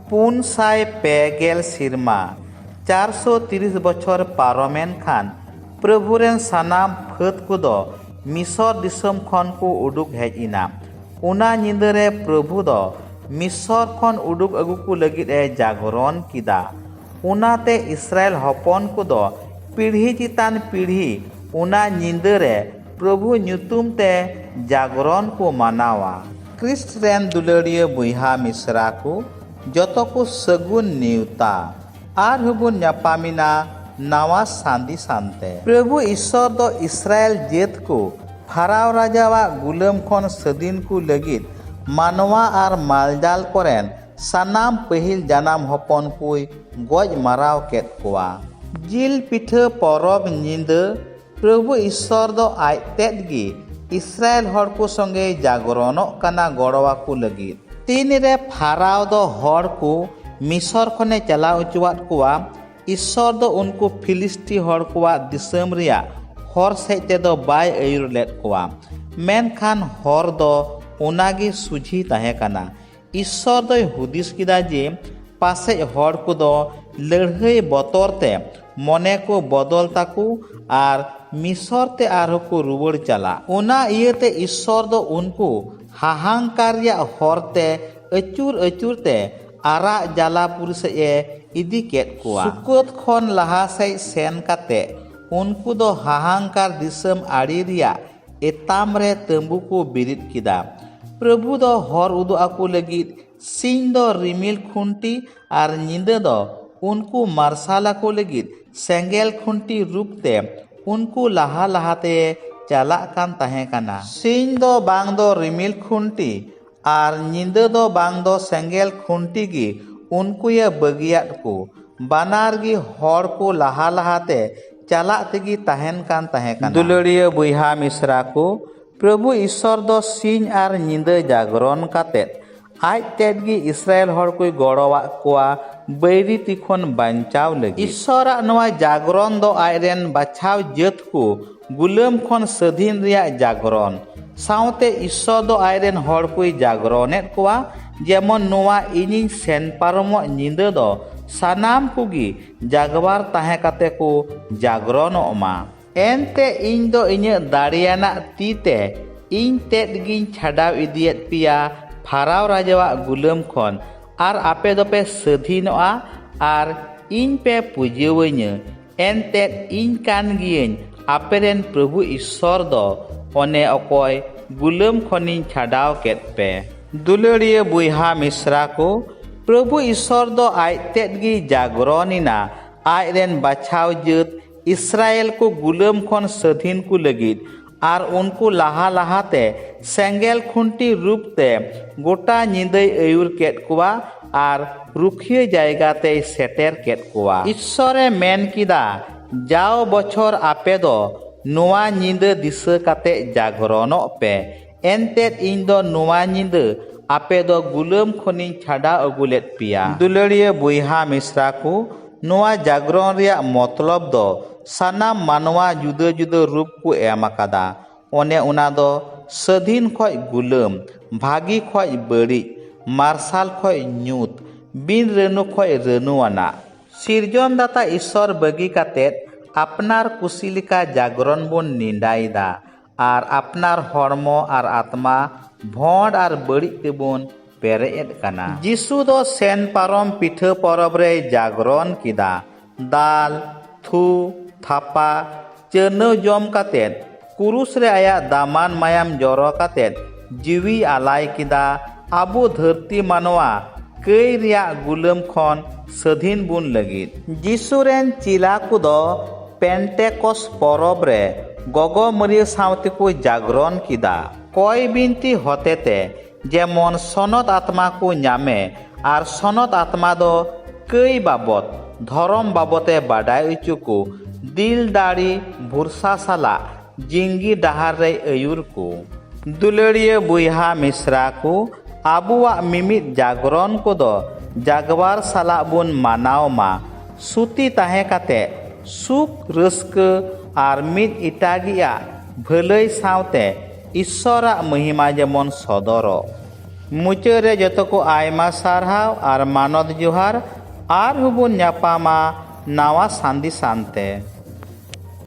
ᱯᱩᱱ ᱥᱟᱭ ᱯᱮ ᱜᱮᱞ ᱥᱮᱨᱢᱟ ᱪᱟᱨ ᱥᱚ ᱛᱤᱨᱤᱥ ᱵᱚᱪᱷᱚᱨ ᱯᱟᱨᱚᱢᱮᱱ ᱠᱷᱟᱱ ᱯᱨᱚᱵᱷᱩ ᱨᱮᱱ ᱥᱟᱱᱟᱢ ᱯᱷᱟᱹᱫᱽ ᱠᱚᱫᱚ ᱢᱤᱥᱚᱨ ᱫᱤᱥᱚᱢ ᱠᱷᱚᱱ ᱠᱚ ᱩᱰᱩᱠ ᱦᱮᱡ ᱮᱱᱟ ᱚᱱᱟ ᱧᱤᱫᱟᱹ ᱨᱮ ᱯᱨᱚᱵᱷᱩ ᱫᱚ ᱢᱤᱥᱚᱨ ᱠᱷᱚᱱ ᱩᱰᱩᱠ ᱟᱹᱜᱩ ᱠᱚ ᱞᱟᱹᱜᱤᱫ ᱮ ᱡᱟᱜᱚᱨᱚᱱ ᱠᱮᱫᱟ ᱚᱱᱟᱛᱮ ᱤᱥᱨᱟᱭᱮᱞ ᱦᱚᱯᱚᱱ ᱠᱚᱫᱚ ᱯᱤᱲᱦᱤ ᱪᱮᱛᱟᱱ ᱯᱤᱲᱦᱤ ᱚᱱᱟ ᱧᱤᱫᱟᱹ ᱨᱮ ᱯᱨᱚᱵᱷᱩ ᱧᱩᱛᱩᱢ ᱛᱮ ᱡᱟᱜᱽᱨᱚᱱ ᱠᱚ ᱢᱟᱱᱟᱣᱟ᱾ ᱠᱨᱤᱥᱴ ᱨᱮᱱ ᱫᱩᱞᱟᱹᱲᱤᱭᱟᱹ ᱵᱚᱭᱦᱟ ᱢᱤᱥᱨᱟ ᱠᱚ ᱡᱚᱛᱚ ᱠᱚ ᱥᱟᱹᱜᱩᱱ ᱱᱮᱣᱛᱟ᱾ ᱟᱨ ᱦᱚᱸ ᱵᱚᱱ ᱧᱟᱯᱟᱢᱮᱱᱟ ᱱᱟᱣᱟ ᱥᱟᱸᱫᱤ ᱥᱟᱱᱛᱮ᱾ ᱯᱨᱚᱵᱷᱩ ᱤᱥᱚᱨ ᱫᱚ ᱤᱥᱨᱟᱭᱮᱞ ᱡᱟᱹᱛ ᱠᱚ ᱯᱷᱟᱨᱟᱣ ᱨᱟᱡᱟ ᱣᱟᱜ ᱜᱩᱞᱟᱹᱢ ᱠᱷᱚᱱ ᱥᱟᱹᱫᱤᱱ ᱠᱚ ᱞᱟᱹᱜᱤᱫ ᱢᱟᱱᱣᱟ ᱟᱨ ᱢᱟᱞᱡᱟᱞ ᱠᱚᱨᱮᱱ ᱥᱟᱱᱟᱢ ᱯᱟᱹᱦᱤᱞ ᱡᱟᱱᱟᱢ ᱦᱚᱯᱚᱱ ᱠᱚᱭ ᱜᱚᱡ ᱢᱟᱨᱟᱣ ᱠᱮᱫ ᱠᱚᱣᱟ᱾ ᱡᱤᱞ ᱯᱤᱴᱷᱟᱹ ᱯᱚᱨᱚᱵᱽ ᱧᱤᱫᱟᱹ ᱯᱨᱚᱵᱷᱩ ᱤᱥᱥᱚᱨ ᱫᱚ ᱟᱡ ᱛᱮᱫ ᱜᱮ ᱤᱥᱨᱟᱭᱮᱞ ᱦᱚᱲ ᱠᱚ ᱥᱚᱸᱜᱮ ᱡᱟᱜᱽᱨᱚᱱᱚᱜ ᱠᱟᱱᱟ ᱜᱚᱲᱚ ᱟᱠᱚ ᱞᱟᱹᱜᱤᱫ᱾ ᱛᱤᱱ ᱨᱮ ᱯᱷᱟᱨᱟᱣ ᱫᱚ ᱦᱚᱲ ᱠᱚ ᱢᱤᱥᱚᱨ ᱠᱷᱚᱱ ᱮ ᱪᱟᱞᱟᱣ ᱚᱪᱚᱣᱟᱫ ᱠᱚᱣᱟ, ᱤᱥᱥᱚᱨ ᱫᱚ ᱩᱱᱠᱩ ᱯᱷᱤᱞᱤᱥᱴᱤ ᱦᱚᱲ ᱠᱚᱣᱟᱜ ᱫᱤᱥᱟᱹᱢ ᱨᱮᱭᱟᱜ ᱦᱚᱨ ᱥᱮᱡ ᱛᱮ ᱫᱚ ᱵᱟᱭ ᱟᱹᱭᱩᱨ ᱞᱮᱫ ᱠᱚᱣᱟ, ᱢᱮᱱᱠᱷᱟᱱ ᱦᱚᱨ ᱫᱚ ᱚᱱᱟ ᱜᱮ ᱥᱩᱡᱷᱤ ᱛᱟᱦᱮᱸ ᱠᱟᱱᱟ᱾ ᱤᱥᱥᱚᱨ ᱫᱚᱭ ᱦᱩᱫᱤᱥ ᱠᱮᱫᱟ ᱡᱮ ᱯᱟᱥᱮᱡ ᱦᱚᱲ ᱠᱚᱫᱚ ᱞᱟᱹᱲᱦᱟᱹᱭ ᱵᱚᱛᱚᱨ ᱛᱮ ᱢᱚᱱᱮ ᱠᱚ ᱵᱚᱫᱚᱞ ᱛᱟᱠᱚ ᱟᱨ ᱢᱤᱥᱚᱨ ᱛᱮ ᱟᱨᱦᱚᱸ ᱠᱚ ᱨᱩᱣᱟᱹᱲ ᱪᱟᱞᱟᱜ ᱚᱱᱟ ᱤᱭᱟᱹᱛᱮ ᱤᱥᱥᱚᱨ ᱫᱚ ᱩᱱᱠᱩ ᱦᱟᱦᱟᱝᱠᱟᱨ ᱨᱮᱭᱟᱜ ᱦᱚᱨ ᱛᱮ ᱟᱹᱪᱩᱨ ᱟᱹᱪᱩᱨ ᱛᱮ ᱟᱨᱟᱜ ᱡᱟᱞᱟᱯᱩᱨ ᱥᱮᱡ ᱮ ᱤᱫᱤ ᱠᱮᱫ ᱠᱚᱣᱟ ᱥᱩᱠᱚᱛ ᱠᱷᱚᱱ ᱞᱟᱦᱟ ᱥᱮᱡ ᱥᱮᱱ ᱠᱟᱛᱮ ᱩᱱᱠᱩ ᱫᱚ ᱦᱟᱦᱟᱝᱠᱟᱨ ᱫᱤᱥᱚᱢ ᱟᱲᱮ ᱨᱮᱭᱟᱜ ᱮᱛᱟᱢ ᱨᱮ ᱛᱟᱹᱢᱵᱩ ᱠᱚ ᱵᱤᱨᱤᱫ ᱠᱮᱫᱟ ᱯᱨᱚᱵᱷᱩ ᱫᱚ ᱦᱚᱨ ᱩᱫᱩᱜ ᱟᱠᱚ ᱞᱟᱹᱜᱤᱫ ᱥᱤᱧ ᱫᱚ ᱨᱤᱢᱤᱞ ᱠᱷᱩᱱᱴᱤ ᱟᱨ ᱧᱤᱫᱟᱹ ᱫᱚ ᱩᱱᱠᱩ ᱢᱟᱨᱥᱟᱞ ᱟᱠᱚ ᱞᱟᱹᱜᱤᱫ ᱥᱮᱸᱜᱮᱞ ᱠᱷᱩᱱᱴᱤ ᱨᱩᱯ ᱛᱮ ᱩᱱᱠᱩ ᱞᱟᱦᱟ ᱞᱟᱦᱟᱛᱮ ᱪᱟᱞᱟᱜ ᱠᱟᱱ ᱛᱟᱦᱮᱸ ᱠᱟᱱᱟ ᱥᱤᱧ ᱫᱚ ᱵᱟᱝ ᱫᱚ ᱨᱤᱢᱤᱞ ᱠᱷᱩᱱᱴᱤ ᱟᱨ ᱧᱤᱫᱟᱹ ᱫᱚ ᱵᱟᱝ ᱫᱚ ᱥᱮᱸᱜᱮᱞ ᱠᱷᱩᱱᱴᱤ ᱜᱮ ᱩᱱᱠᱩᱭᱮ ᱵᱟᱹᱜᱤᱭᱟᱫ ᱠᱚ ᱵᱟᱱᱟᱨ ᱜᱮ ᱦᱚᱲ ᱠᱚ ᱞᱟᱦᱟ ᱞᱟᱦᱟ ᱛᱮ ᱪᱟᱞᱟᱜ ᱛᱮᱜᱮ ᱛᱟᱦᱮᱱ ᱠᱟᱱ ᱛᱟᱦᱮᱸ ᱠᱟᱱᱟ᱾ ᱫᱩᱞᱟᱹᱲᱤᱭᱟᱹ ᱵᱚᱭᱦᱟ ᱢᱤᱥᱨᱟ ᱠᱚ, ᱯᱨᱚᱵᱷᱩ ᱤᱥᱥᱚᱨ ᱫᱚ ᱥᱤᱧ ᱟᱨ ᱧᱤᱫᱟᱹ ᱡᱟᱜᱽᱨᱚᱱ ᱠᱟᱛᱮ ᱟᱡ ᱛᱮᱫ ᱜᱮ ᱤᱥᱨᱟᱭᱮᱞ ᱦᱚᱲ ᱠᱚᱭ ᱜᱚᱲᱚᱣᱟᱫ ᱠᱚᱣᱟ ᱵᱟᱹᱭᱨᱤ ᱛᱤ ᱠᱷᱚᱱ ᱵᱟᱧᱪᱟᱣ ᱞᱟᱹᱜᱤᱫ᱾ ᱤᱥᱥᱚᱨ ᱟᱜ ᱱᱚᱶᱟ ᱡᱟᱜᱽᱨᱚᱱ ᱫᱚ ᱟᱡ ᱨᱮᱱ ᱵᱟᱪᱷᱟᱣ ᱡᱟᱹᱛ ᱠᱚ ᱜᱩᱞᱟᱹᱢ ᱠᱷᱚᱱ ᱥᱟᱹᱫᱷᱤᱱ ᱨᱮᱭᱟᱜ ᱡᱟᱜᱽᱨᱚᱱ ᱥᱟᱶᱛᱮ ᱤᱥᱥᱚᱨ ᱫᱚ ᱟᱡ ᱨᱮᱱ ᱦᱚᱲ ᱠᱚᱭ ᱡᱟᱜᱽᱨᱚᱱᱮᱫ ᱠᱚᱣᱟ ᱡᱮᱢᱚᱱ ᱱᱚᱣᱟ ᱤᱧᱤᱧ ᱥᱮᱱ ᱯᱟᱨᱚᱢᱚᱜ ᱧᱤᱫᱟᱹ ᱫᱚ ᱥᱟᱱᱟᱢ ᱠᱚᱜᱮ ᱡᱟᱜᱽᱣᱟᱨ ᱛᱟᱦᱮᱸ ᱠᱟᱛᱮ ᱠᱚ ᱡᱟᱜᱽᱨᱚᱱᱚᱜ ᱢᱟ ᱮᱱᱛᱮ ᱤᱧ ᱫᱚ ᱤᱧᱟᱹᱜ ᱫᱟᱲᱮᱭᱟᱱᱟᱜ ᱛᱤ ᱛᱮ ᱤᱧ ᱛᱮᱫ ᱜᱤᱧ ᱪᱷᱟᱰᱟᱣ ᱤᱫᱤᱭᱮᱫ ᱯᱮᱭᱟ ᱯᱷᱟᱨᱟᱣ ᱨᱟᱡᱟᱣᱟᱜ ᱜᱩᱞᱟᱹᱢ ᱠᱷᱚᱱ ᱟᱨ ᱟᱯᱮ ᱫᱚᱯᱮ ᱥᱟᱹᱫᱷᱤᱱᱚᱜᱼᱟ ᱟᱨ ᱤᱧ ᱯᱮ ᱯᱩᱡᱟᱹᱣᱟᱹᱧᱟᱹ ᱮᱱᱛᱮᱫ ᱤᱧ ᱠᱟᱱ ᱜᱤᱭᱟᱹᱧ ᱟᱯᱮ ᱨᱮᱱ ᱯᱨᱚᱵᱷᱩ ᱤᱥᱥᱚᱨ ᱫᱚ ᱚᱱᱮ ᱚᱠᱚᱭ ᱜᱩᱞᱟᱹᱢ ᱠᱷᱚᱱᱤᱧ ᱪᱷᱟᱰᱟᱣ ᱠᱮᱫ ᱯᱮ ᱫᱩᱞᱟᱹᱲᱤᱭᱟᱹ ᱵᱚᱭᱦᱟ ᱢᱤᱥᱨᱟ ᱠᱚ ᱯᱨᱚᱵᱷᱩ ᱤᱥᱥᱚᱨ ᱫᱚ ᱟᱡ ᱛᱮᱫ ᱜᱮᱭ ᱡᱟᱜᱽᱨᱚᱱ ᱮᱱᱟ ᱟᱡ ᱨᱮᱱ ᱵᱟᱪᱷᱟᱣ ᱡᱟᱹᱛ ᱤᱥᱨᱟᱭᱮᱞ ᱠᱚ ᱜᱩᱞᱟᱹᱢ ᱠᱷᱚᱱ ᱥᱟᱹᱫᱷᱤᱱ ᱠᱚ ᱞᱟᱹᱜᱤᱫ ᱟᱨ ᱩᱱᱠᱩ ᱞᱟᱦᱟ ᱞᱟᱦᱟ ᱛᱮ ᱥᱮᱸᱜᱮᱞ ᱠᱷᱩᱱᱴᱤ ᱨᱩᱯ ᱛᱮ ᱜᱚᱴᱟ ᱧᱤᱫᱟᱹᱭ ᱟᱹᱭᱩᱨ ᱠᱮᱫ ᱠᱚᱣᱟ ᱟᱨ ᱨᱩᱠᱷᱤᱭᱟᱹ ᱡᱟᱭᱜᱟ ᱛᱮᱭ ᱥᱮᱴᱮᱨ ᱠᱮᱫ ᱠᱚᱣᱟ᱾ ᱤᱥᱥᱚᱨ ᱮ ᱢᱮᱱ ᱠᱮᱫᱟ, ᱡᱟᱣ ᱵᱚᱪᱷᱚᱨ ᱟᱯᱮ ᱫᱚ ᱱᱚᱶᱟ ᱧᱤᱫᱟᱹ ᱫᱤᱥᱟᱹ ᱠᱟᱛᱮ ᱡᱟᱜᱽᱨᱚᱱᱚᱜ ᱯᱮ, ᱮᱱᱛᱮᱫ ᱤᱧ ᱫᱚ ᱱᱚᱶᱟ ᱧᱤᱫᱟᱹ ᱟᱯᱮ ᱫᱚ ᱜᱩᱞᱟᱹᱢ ᱠᱷᱚᱱᱤᱧ ᱪᱷᱟᱰᱟᱣ ᱟᱹᱜᱩ ᱞᱮᱫ ᱯᱮᱭᱟ᱾ ᱫᱩᱞᱟᱹᱲᱤᱭᱟᱹ ᱵᱚᱭᱦᱟ ᱢᱤᱥᱨᱟ ᱠᱚ, ᱱᱚᱶᱟ ᱡᱟᱜᱽᱨᱚᱱ ᱨᱮᱭᱟᱜ ᱢᱚᱛᱞᱚᱵᱽ ᱫᱚ ᱥᱟᱱᱟᱢ ᱢᱟᱱᱣᱟ ᱡᱩᱫᱟᱹ ᱡᱩᱫᱟᱹ ᱨᱩᱯ ᱠᱚ ᱮᱢ ᱟᱠᱟᱫᱟ ᱚᱱᱮ ᱚᱱᱟ ᱫᱚ ᱥᱟᱹᱫᱷᱤᱱ ᱠᱷᱚᱱ ᱜᱩᱞᱟᱹᱢ ᱵᱷᱟᱹᱜᱤ ᱠᱷᱚᱱ ᱵᱟᱹᱲᱤᱡ ᱢᱟᱨᱥᱟᱞ ᱠᱷᱚᱱ ᱧᱩᱛ ᱵᱤᱱ ᱨᱟᱹᱱᱩ ᱠᱷᱚᱱ ᱨᱟᱹᱱᱩ ᱟᱱᱟᱜ ᱥᱤᱨᱡᱚᱱ ᱫᱟᱛᱟ ᱤᱥᱥᱚᱨ ᱵᱟᱹᱜᱤ ᱠᱟᱛᱮ ᱟᱯᱱᱟᱨ ᱠᱩᱥᱤ ᱞᱮᱠᱟ ᱡᱟᱜᱽᱨᱚᱱ ᱵᱚᱱ ᱱᱮᱸᱰᱟᱭᱮᱫᱟ ᱟᱨ ᱟᱯᱱᱟᱨ ᱦᱚᱲᱢᱚ ᱟᱨ ᱟᱛᱢᱟ ᱵᱷᱚᱸᱰ ᱟᱨ ᱵᱟᱹᱲᱤᱡ ᱛᱮᱵᱚᱱ ᱯᱮᱨᱮᱡ ᱮᱫ ᱠᱟᱱᱟ᱾ ᱡᱤᱥᱩ ᱫᱚ ᱥᱮᱱ ᱯᱟᱨᱚᱢ ᱯᱤᱴᱷᱟᱹ ᱯᱚᱨᱚᱵᱽ ᱨᱮᱭ ᱡᱟᱜᱽᱨᱚᱱ ᱠᱮᱫᱟ᱾ ᱫᱟᱞ, ᱛᱷᱩ, ᱛᱷᱟᱯᱟ, ᱪᱟᱹᱨᱱᱟᱹᱣ ᱡᱚᱢ ᱠᱟᱛᱮ, ᱠᱩᱨᱩᱥ ᱨᱮ ᱟᱭᱟᱜ ᱫᱟᱢᱟᱱ ᱢᱟᱭᱟᱢ ᱡᱚᱨᱚ ᱠᱟᱛᱮ, ᱡᱤᱣᱤ ᱟᱞᱟᱭ ᱠᱮᱫᱟ ᱟᱵᱚ ᱫᱷᱟᱹᱨᱛᱤ ᱢᱟᱱᱣᱟ ᱠᱟᱹᱭ ᱨᱮᱭᱟᱜ ᱜᱩᱞᱟᱹᱢ ᱠᱷᱚᱱ ᱥᱟᱹᱫᱷᱤᱱ ᱵᱚᱱ ᱞᱟᱹᱜᱤᱫ᱾ ᱡᱤᱥᱩ ᱨᱮᱱ ᱪᱮᱞᱟ ᱠᱚ ᱫᱚ ᱯᱮᱱᱴᱮᱠᱚᱥ ᱯᱚᱨᱚᱵᱽ ᱨᱮ ᱜᱚᱜᱚ ᱢᱟᱹᱨᱤᱭᱟᱹ ᱥᱟᱶᱛᱮ ᱠᱚ ᱡᱟᱜᱽᱨᱚᱱ ᱠᱮᱫᱟ᱾ ᱠᱚᱭ ᱵᱤᱱᱛᱤ ᱦᱚᱛᱮᱛᱮ ᱡᱮᱢᱚᱱ ᱥᱚᱱᱚᱛ ᱟᱛᱢᱟ ᱠᱚ ᱧᱟᱢᱮ ᱟᱨ ᱥᱚᱱᱚᱛ ᱟᱛᱢᱟ ᱫᱚ ᱠᱟᱹᱭ ᱵᱟᱵᱚᱛ ᱫᱷᱚᱨᱚᱢ ᱵᱟᱵᱚᱛᱮ ᱵᱟᱰᱟᱭ ᱚᱪᱚ ᱠᱚ ᱫᱤᱞ ᱫᱟᱲᱮ ᱵᱷᱚᱨᱥᱟ ᱥᱟᱞᱟᱜ ᱡᱤᱝᱜᱤ ᱰᱟᱦᱟᱨ ᱨᱮᱭ ᱟᱹᱭᱩᱨ ᱠᱚ᱾ ᱫᱩᱞᱟᱹᱲᱤᱭᱟᱹ ᱵᱚᱭᱦᱟ ᱢᱤᱥᱨᱟ ᱠᱚ, ᱟᱵᱚᱣᱟᱜ ᱢᱤᱢᱤᱫ ᱡᱟᱜᱽᱨᱚᱱ ᱠᱚᱫᱚ ᱡᱟᱜᱽᱣᱟᱨ ᱥᱟᱞᱟᱜ ᱵᱚᱱ ᱢᱟᱱᱟᱣ ᱢᱟ᱾ ᱥᱩᱛᱤ ᱛᱟᱦᱮᱸ ᱠᱟᱛᱮ ᱥᱩᱠ, ᱨᱟᱹᱥᱠᱟᱹ ᱟᱨ ᱢᱤᱫ ᱮᱴᱟᱜᱤᱭᱟᱜ ᱵᱷᱟᱹᱞᱟᱹᱭ ᱥᱟᱶᱛᱮ ᱤᱥᱥᱚᱨᱟᱜ ᱢᱚᱦᱤᱢᱟ ᱡᱮᱢᱚᱱ ᱥᱚᱫᱚᱨᱚᱜ᱾ ᱢᱩᱪᱟᱹᱫ ᱨᱮ ᱡᱚᱛᱚ ᱠᱚ ᱟᱭᱢᱟ ᱥᱟᱨᱦᱟᱣ ᱟᱨ ᱢᱟᱱᱚᱛ ᱡᱚᱦᱟᱨ᱾ ᱟᱨᱦᱚᱸ ᱵᱚᱱ ᱧᱟᱯᱟᱢᱟ ᱱᱟᱣᱟ ᱥᱟᱸᱫᱮᱥᱟᱱ ᱛᱮ᱾